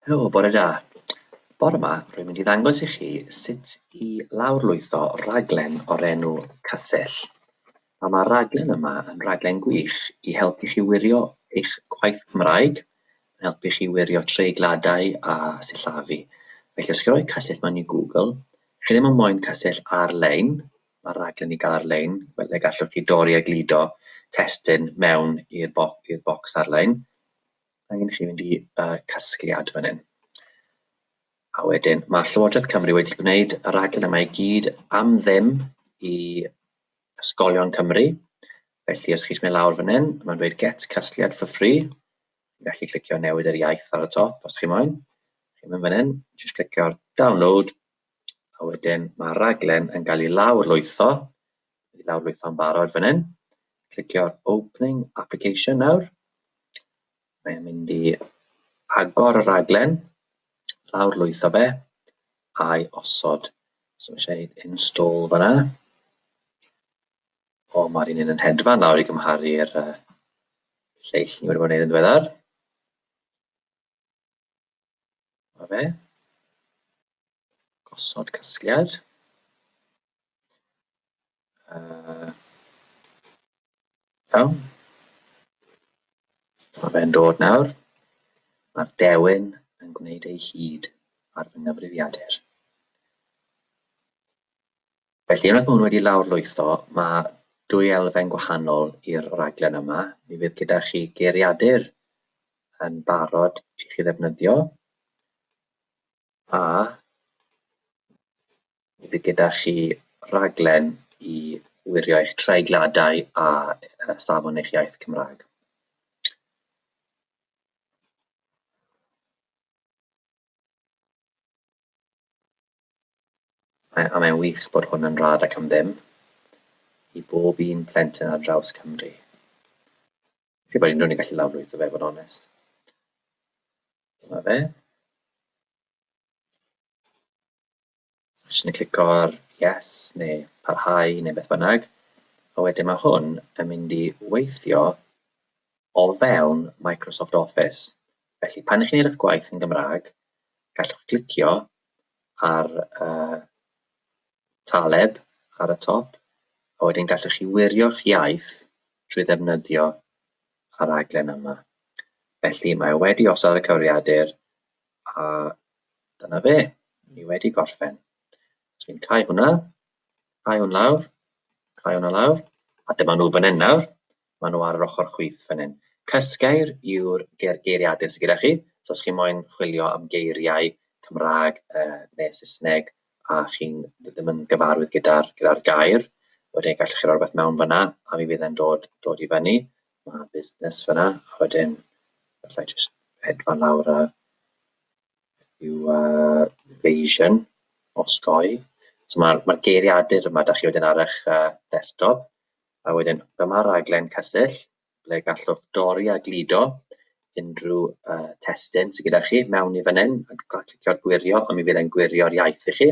Helo, bore da. Bore 'ma rwy'n mynd i ddangos i chi sut i lawrlwytho rhaglen o'r enw Castell. Nawr mae'r rhaglen yma yn rhaglen gwych i helpu chi wirio eich gwaith Cymraeg, yn helpu chi wirio treigladau a sillafu. Felly os chi'n rhoi Castell mewn i Google, chi ddim yn moyn Castell ar-lein, mae'r rhaglen i gael ar-lein, fel y gallwch chi dorri a gludo testun mewn i'r bo bocs ar-lein. Mae angen i chi fynd i uh, casgliad fan hyn. A wedyn, mae Llywodraeth Cymru wedi gwneud y rhaglen yma i gyd am ddim i ysgolion Cymru. Felly, os chi'n mynd lawr fan hyn, mae'n dweud get casgliad for free. Chi'n gallu clicio newid yr iaith ar y top os chi'n moyn. Chi'n mynd fan hyn, jyst clicio download. A wedyn, mae rhaglen yn cael ei lawr lwytho. Dwi wedi lawrlwytho'n barod fan hyn. Clicio ar opening application nawr. Mae'n mynd i agor y raglen, lawrlwytho fe, a'i osod. So mae eisiau gwneud install fanna. O, mae'r un yn hedfan nawr i gymharu'r uh, lleill ni wedi bod yn gwneud yn ddiweddar. Mae fe. gosod casgliad. Uh, iawn. Mae fe'n dod nawr. Mae'r dewin yn gwneud ei hyd ar fy nghyfrifiadur. Felly, unwaith mae hwn wedi lawr lwytho, mae dwy elfen gwahanol i'r raglen yma. Mi fydd gyda chi geiriadur yn barod i chi ddefnyddio. A bydd gyda chi raglen i wirio eich treigladau a uh, safon eich iaith Cymraeg. Mae, a mae'n wych bod hwn yn rad ac am ddim i bob un plentyn ar draws Cymru. Felly bod unrhyw'n ei gallu lawrlwytho fe, fod onest. Dyma fe. Jyst yn clico ar yes neu parhau neu beth bynnag. A wedyn mae hwn yn mynd i weithio o fewn Microsoft Office. Felly pan ych chi'n edrych gwaith yn Gymraeg, gallwch glicio ar uh, Taleb ar y top, a wedyn gallwch chi wirio'ch iaith drwy ddefnyddio y rhaglen yma. Felly mae o wedi osod y cyfrifiadur a dyna fe, ni wedi gorffen. Os fi'n cau hwnna, cau hwn lawr, cau hwnna lawr, a dyma nhw fan hyn nawr. Maen nhw ar yr ochr chwith fan hyn. Cysgair yw'r ger geiriadur sydd gyda chi. So os chi moyn chwilio am geiriau Cymraeg uh, neu Saesneg a chi'n ddim yn gyfarwydd gyda'r gyda gair, wedyn gallwch chi roi rhywbeth mewn fyna a mi fydd e'n dod, dod i fyny. Mae busnes fyna a wedyn gallai jyst hedfan lawr a yw uh, Vision osgoi. So mae'r mae geiriadur yma, da chi wedyn ar eich uh, desktop, A wedyn dyma raglen Castell ble gallwch dorri a gludo unrhyw uh, testyn sydd gyda chi mewn i fan hyn a clicio'r gwirio a mi fydd e'n gwirio'r iaith i chi.